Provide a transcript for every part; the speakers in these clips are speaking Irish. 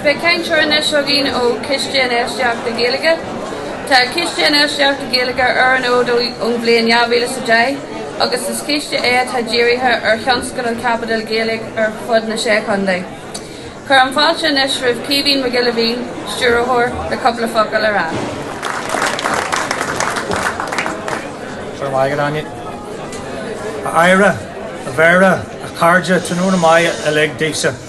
Beidh cainteoir anois againn ó Chiste Infheistíochta Gaeilge. Tá Ciste Infheistíochta Gaeilge ar an fhód ón bhliain 2010 agus is ciste é atá dírithe ar thionscadail chaipitil Ghaeilge ar fud na sé chontae. Cuirim fáilte anois roimh Caoimhín Mac Giolla Mhín, Stiúrthóir, le cúpla focal a rá. Go raibh maith agat Áine. A Aire, a Mhéara, a Chairde, tráthnóna maith uilig daoibhse.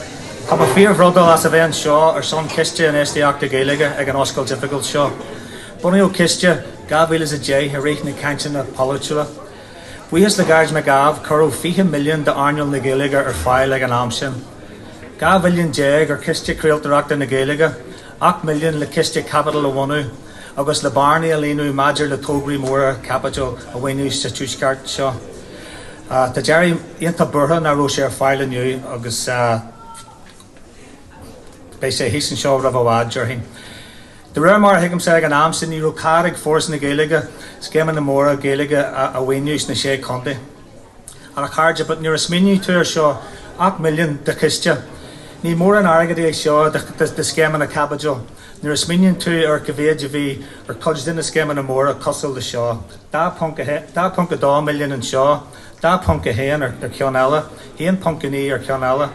Tá mé fíor-bhrodúil as a bheith anseo ar son Chiste Infheistíochta Gaeilge ag an oscailt oifigiúil seo. Bunaíodh Ciste 2010 i rith na cainteanna polaitiúla. Buíochas le Gearóid Mac Ádhaimh cuireadh 20 milliún d'earnáil na Gaeilge ar fáil ag an am sin. 12 mhilliún ar Chiste Craoltóireachta na Gaeilge, 8 milliún le ciste caipitil a bhunú agus le bearnaí a líonadh maidir le tograí móra caipitil a mhaoiniú sa Tuaisceart seo. Tá Gerry iontach buartha nach raibh sé ar fáil inniu agus beidh sé thíos anseo roimh i bhfad, déarfainn. De réir mar a thuigimse, ag an am sin ní raibh cead ag Foras na Gaeilge scéimeanna móra Gaeilge a mhaoiniú sna Sé Chontae. Ach a chairde, but nuair a smaoiníonn tú ar seo, ocht milliún de chiste, ní mórán airgead é seo do scéimeanna caipitil nuair a smaoiníonn tú ar an mhéid a bhí ar cuid de na scéimeanna móra cosúil le seo. 2.2 milliún anseo, 2.1 ar cheann eile, 1.9 ar cheann eile,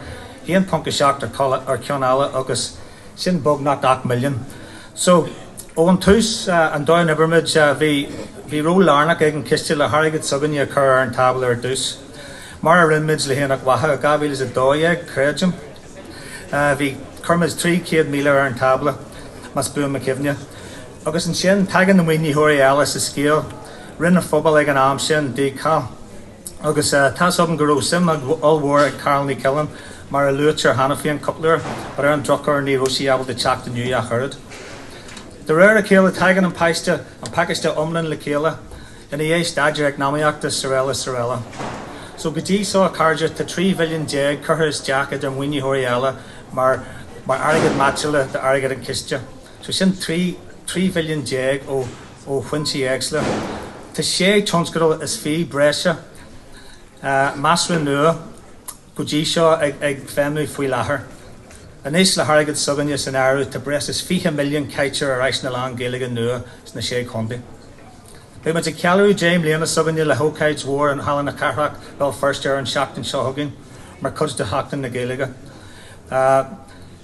1.7 ar cheann eile agus sin beagnach ocht milliún. So, ón tús, an domhan ina bhfuilimid, bhí, bhí ról lárnach ag an Chiste le hairgead s'againne a chur ar an tábla ar dtús, mar a rinne muid le hAonach Mhacha i 2012, creidim. Bhí, chuir muid 300,000 ar an tábla, más buan mo chuimhne. Agus ansin, tagann na maoinitheoirí eile sa scéal, Roinn an Phobail ag an am sin, DCAL. Agus tá 'fhios agam go raibh suim ollmhór ag Carál Ní Chuilinn, mar a luaitear cheana féin cúpla uair, but ar an drochuair ní raibh sí ábalta teacht inniu ach oiread. De réir a chéile, tagann an paiste, an pacáiste iomlán le chéile, i ndiaidh staidéar eacnamaíochta, is araile, is araile. So, go dtí so, a chairde, tá 13 mhilliún curtha isteach idir maoinitheoirí eile mar airgead meaitse le d'airgead an chiste. sé sin trí 13 mhilliún ó foinsí éagsúla. Tá sé tionscadal is fiche breise nua go dtí seo ag feidhmiú faoi láthair. Anois le hairgead s'againne san áireamh tá breis is 20 milliún caite ar áiseanna lán Gaeilge nua sna Sé Chontae. Beidh muid ag ceiliúradh deich mbliana s'againne le hócáid mhór in Halla na Cathrach, Béal Feirste ar an seachtain seo chugainn mar chuid de Sheachtain na Gaeilge.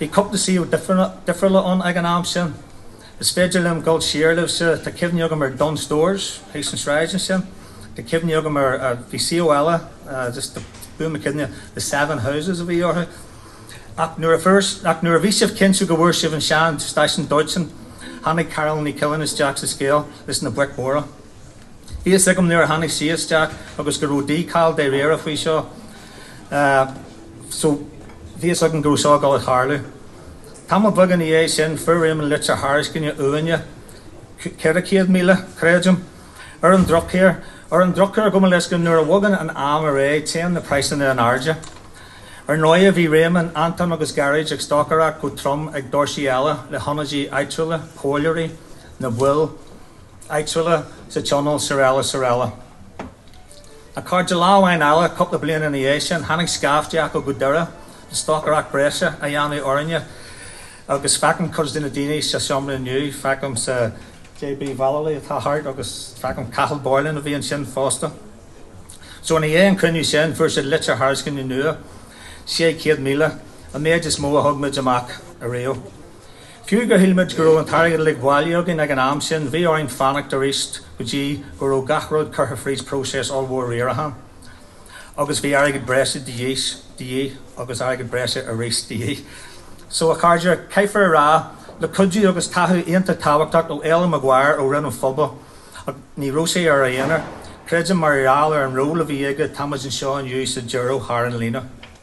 Bhí cúpla suíomh difriúla ann ag an am sin. Is féidir liom dul siar libhse, tá cuimhní agam ar Dunnes Stores thíos an sráid ansin, tá cuimhní agam ar, bhí suíomh eile, just buail mo chuimhne, The Seven Houses a bhí orthu. Ach nuair a fuair, ach nuair a bhí sibh cinnte go bhfuair sibh an sean stáisiún dóiteáin, tháinig Carál Ní Chuilín isteach sa scéal is na boic mhóra. Bhí fhios agam nuair a tháinig sí isteach agus go raibh dícheall dáiríre faoi seo. so bhí fhios agam go raibh seo ag gabháil a tharlú. Tamall beag ina dhiaidh sin fuair Réamann litir thairiscine uainne, ceithre céad míle, creidim, ar an drochuair, ar an drochuair dó, mar is eol, nuair a bhogann an am ar aghaidh téann na praghsanna in airde. Ar ndóighe bhí Réamann, Antoin agus Gearóid ag stocaireacht go trom ag doirsí eile le hionadaithe áitiúla, polaiteoirí, na baill áitiúla sa tionól srl srl. A chairde lá amháin eile, cúpla bliain ina dhiaidh sin, tháinig scaifte acu go Doire le stocaireacht breise a dhéanamh orainn agus feicim cuid de na daoine sa seomra inniu, feicim JB Vallely atá thart agus feicim Cathal Boylan a bhí ansin fosta. So ina dhiaidh an chruinniú sin, fuair siad litir thairisceana nua, 600,000, an méid is mó a thug muid amach ariamh. Fiú gur shíl muid go raibh an t-airgead uilig bailithe againn ag an am sin, bhí orainn fanacht arís go dtí go raibh gach rud curtha fríd próiseas ollmhór riaracháin, agus bhí airgead breise de dhíth, agus airgead breise arís de dhíth. So, a chairde, caithfear a rá, le cuidiú agus tacaíocht iontach tábhachtach ó Fhéilim Maguire ó Roinn na bPobal, ní raibh sé ar a aonar, creidim, mar gheall ar an ról a bhí aige, tá muid anseo inniu sa deireadh thar an líne.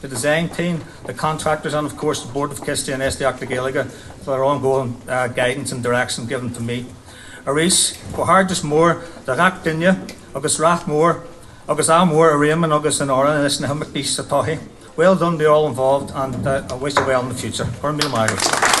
the design team, the contractors and of course the Board of Ciste Infheistíochta na Gaeilge for their ongoing guidance and direction given to me. Arís, comhghairdeas mór do gach duine agus rath mór agus ádh mór ar Réamann agus in Árainn leis na himeachtaí sa toighe. Well done to all involved and I wish you well in the future. Go raibh míle maith agat.